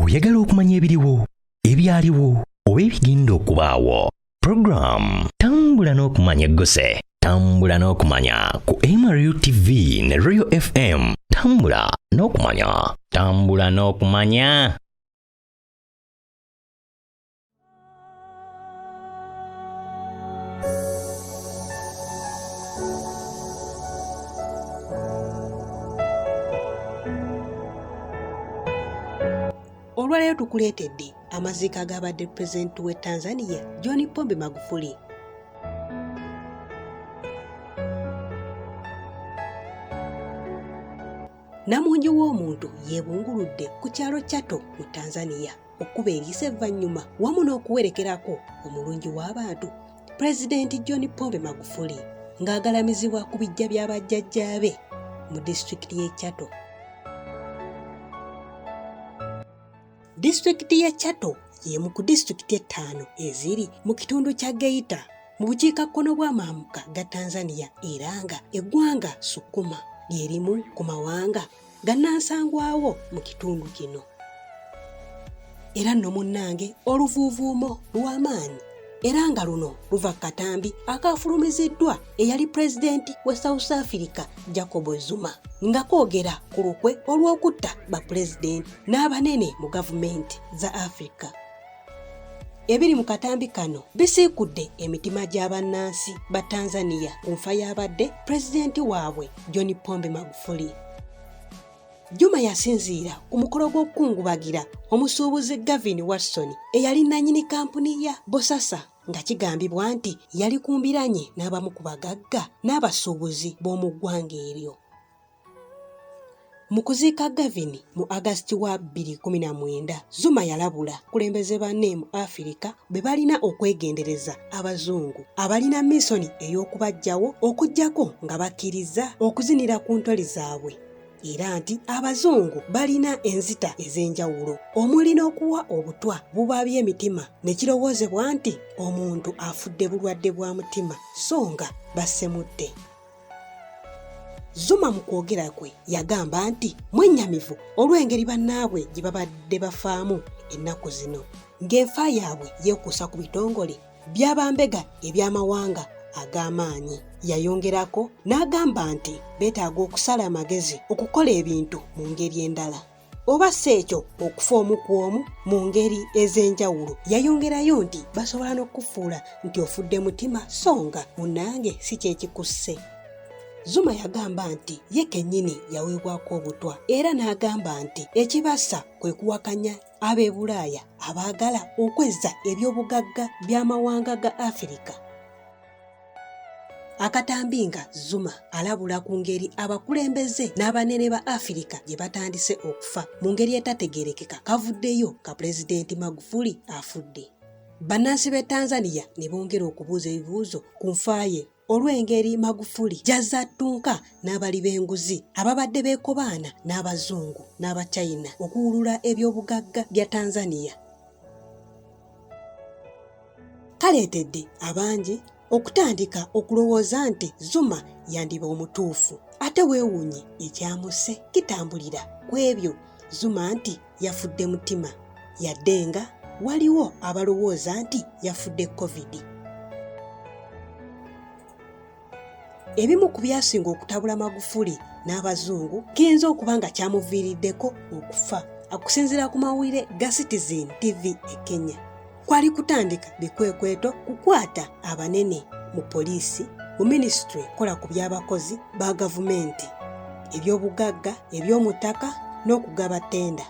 oyagala okumanya ebiriwo ebyaliwo oba ebigenda okubaawo puroguramu tambula n'okumanya egguse tambula n'okumanya ku mru tv ne royal fm tambula n'okumanya tambula n'okumanya olwaleero tukuleetedde amaziika agabadde pulezidenti w'e tanzania john pombe magufuli namungi w'omuntu yeebunguludde ku kyalo chato mu tanzania okkuba eriisa evvannyuma wamu n'okuwerekerako omulungi w'abantu pulezidenti john pombe magufuli ng'agalamizibwa ku bijja bya bajjajjaabe mu disitulikiti y'e chato disitulikiti y'e chato y'emu ku disitulikiti ettaano eziri mu kitundu kya geita mu bukiikakkono bw'amaamuka ga tanzania era nga eggwanga sukuma lyerimu ku mawanga gannansangwawo mu kitundu kino era nno munnange oluvuuvuumo lw'amaanyi era nga luno luva ku katambi akaafulumiziddwa eyali pulezidenti wa south africa jacob zuma nga koogera ku lukwe olw'okutta bapulezidenti n'abanene mu gavumenti za africa Ebiri mu katambi kano bisiikudde emitima gya bannansi ba Tanzania ku nfa y'abadde pulezidenti waabwe John Pombe Magufuli. Juma yasinziira ku mukolo gw'okukungubagira omusuubuzi Gavin Watson eyali nnanyini kampuni ya Bosasa nga kigambibwa nti yali ku mbiranye n'abamu ku bagagga n'abasuubuzi b'omu ggwanga eryo. Mu kuziika Gavin mu August wa 2019, Zuma yalabula kulembeze banne mu Afirika bwe balina okwegendereza Abazungu abalina misoni ey'okubaggyawo okuggyako nga bakkirizza okuzinira ku ntoli zaabwe era nti Abazungu balina enzita ez'enjawulo omuli n'okuwa obutwa bubaabya emitima ne kirowoozebwa nti omuntu afudde bulwadde bwa mutima so nga bassemutte. Zuma mu kwogera kwe yagamba nti mwennyamivu olw'engeri bannaabwe gye babadde bafaamu ennaku zino ng'enfa yaabwe yeekuusa ku bitongole by'abambega eby'amawanga ag'amaanyi. Yayongerako n'agamba nti beetaaga okusala amagezi okukola ebintu mu ngeri endala. oba si ekyo okufa omu ku omu mu ngeri ez'enjawulo yayongerayo nti basobola n'okukufuula nti ofudde mutima so nga munange si kyekikusse zuma yagamba nti ye kennyini yaweebwako obutwa era n'agamba nti ekibasa kwe kuwakanya ab'e bulaaya abaagala okwezza ebyobugagga by'amawanga ga afirika akatambi nga zuma alabula ku ngeri abakulembeze n'abanene ba afirika gye batandise okufa mu ngeri etategerekeka kavuddeyo ka pulezidenti magufuli afudde bannansi b'e tanzania ne bongera okubuuza ebibuuzo ku nfa ye olw'engeri magufuli gy'azze attunka n'abali b'enguzi ababadde beekobaana n'abazungu n'abachina okuwulula eby'obugagga bya tanzania kaleetedde abangi okutandika okulowooza nti zuma yandiba omutuufu ate weewuunye ekyamuse kitambulira ku ebyo zuma nti yafudde mutima yadde nga waliwo abalowooza nti yafudde covid Ebimu ku byasinga okutabula Magufuli n'Abazungu kiyinza okuba nga kyamuviiriddeko okufa. Okusinziira ku mawulire ga Citizen TV e Kenya, kwali kutandika bikwekweto kukwata abanene mu poliisi, mu minisitule kola ku by'abakozi ba gavumenti, eby'obugagga, eby'omuttaka n'okugaba ttenda.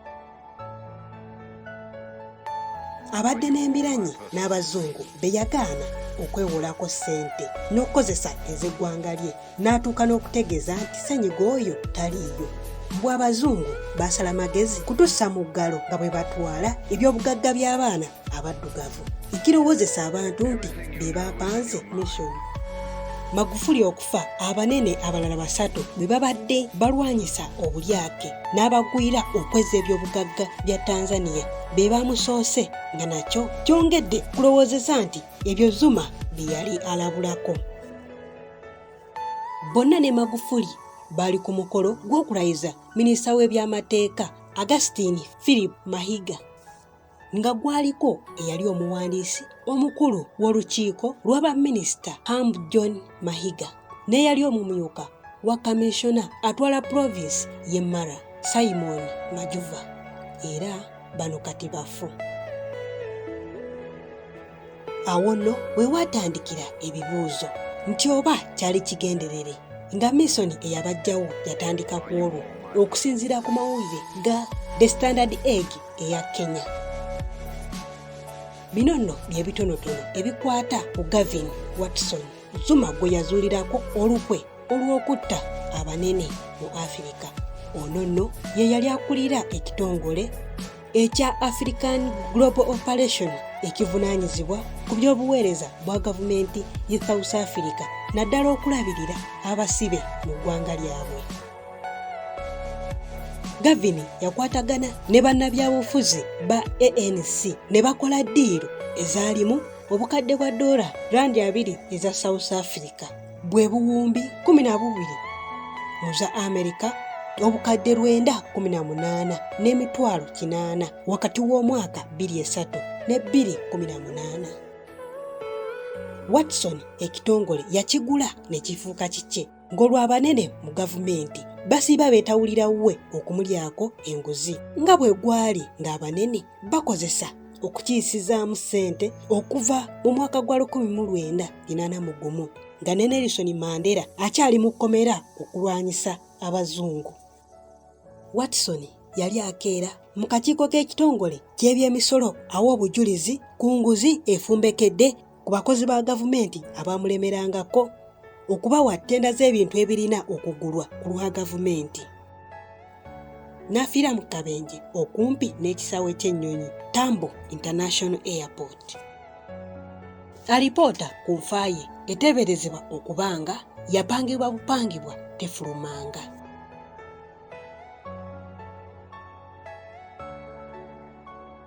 abadde n'embiranyi n'abazungu be yagaana okwewolako ssente n'okukozesa ez'eggwanga lye n'atuuka n'okutegeeza nti senyiga oyo taliiyo mbw abazungu baasala magezi kutussa mu ggalo nga bwe batwala ebyobugagga by'abaana abaddugavu ekirowozesa abantu nti be bapanze mission magufuli okufa abanene abalala basatu bwe babadde balwanyisa obulyake n'abagwira okweza ebyobugagga bya tanzania be bamusoose nga nakyo kyongedde kulowoozeza nti ebyo zuma bye yali alabulako bonna ne magufuli baali ku mukolo gw'okulayiza minisita w'ebyamateeka agustin philip mahiga nga gwaliko eyali omuwandiisi omukulu w'olukiiko lw'abaminisita Amb John Mahiga n'eyali omumyuka wa kaminsona atwala provinsi y'e Mara Simon Majuva era bano kati bafu. awo nno we waatandikira ebibuuzo nti oba kyali kigenderere nga misoni eyabajjawo yatandika ku olwo okusinziira ku mawulire ga the standard egg eya kenya bino nno bye bitonotono ebikwata ku gavin watson zuma gwe yazuulirako olukwe olw'okutta abanene mu afirika ono nno ye yali akulira ekitongole ekya African Global Operation ekivunaanyizibwa ku by'obuweereza bwa gavumenti ye South Africa naddala okulabirira abasibe mu ggwanga lyabwe. Gavin yakwatagana ne bannabyabufuzi ba ANC ne bakola ddiiro ezaalimu obukadde bwa doola randi abiri eza South Africa. bwe buwumbi kumi na bubiri mu za amerika obukadde lwenda kumi na munaana n'emitwalo kinaana wakati w'omwaka bbiri esatu ne bbiri kumi na munaana watson ekitongole yakigula ne kifuuka kikye ng'olw'abanene mu gavumenti basiiba beetawulira wuwe okumulyako enguzi nga bwe gwali ng'abanene bakozesa okukiyisizaamu ssente okuva mu mwaka gwa 1981 nga ne Nelson Mandela akyali mu kkomera okulwanyisa abazungu. Watson yali akeera mu kakiiko k'ekitongole ky'ebyemisolo awa obujulizi ku nguzi efumbekedde ku bakozi ba gavumenti abaamulemerangako okubawa ttenda z'ebintu ebirina okugulwa ku lwa gavumenti n'afiira mu kabenje okumpi n'ekisaawe ky'ennyonyi tambo international airport alipoota ku nfa ye eteeberezebwa okuba nga yapangibwa bupangibwa tefulumanga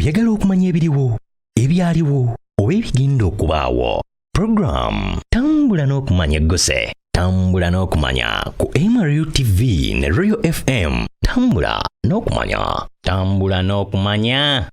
oyagala okumanya ebiriwo ebyaliwo oba ebigenda okubaawo program tambula n'okumanya eggose tambula n'okumanya ku mru tv ne royal fm tambula n'okumanya tambula n'okumanya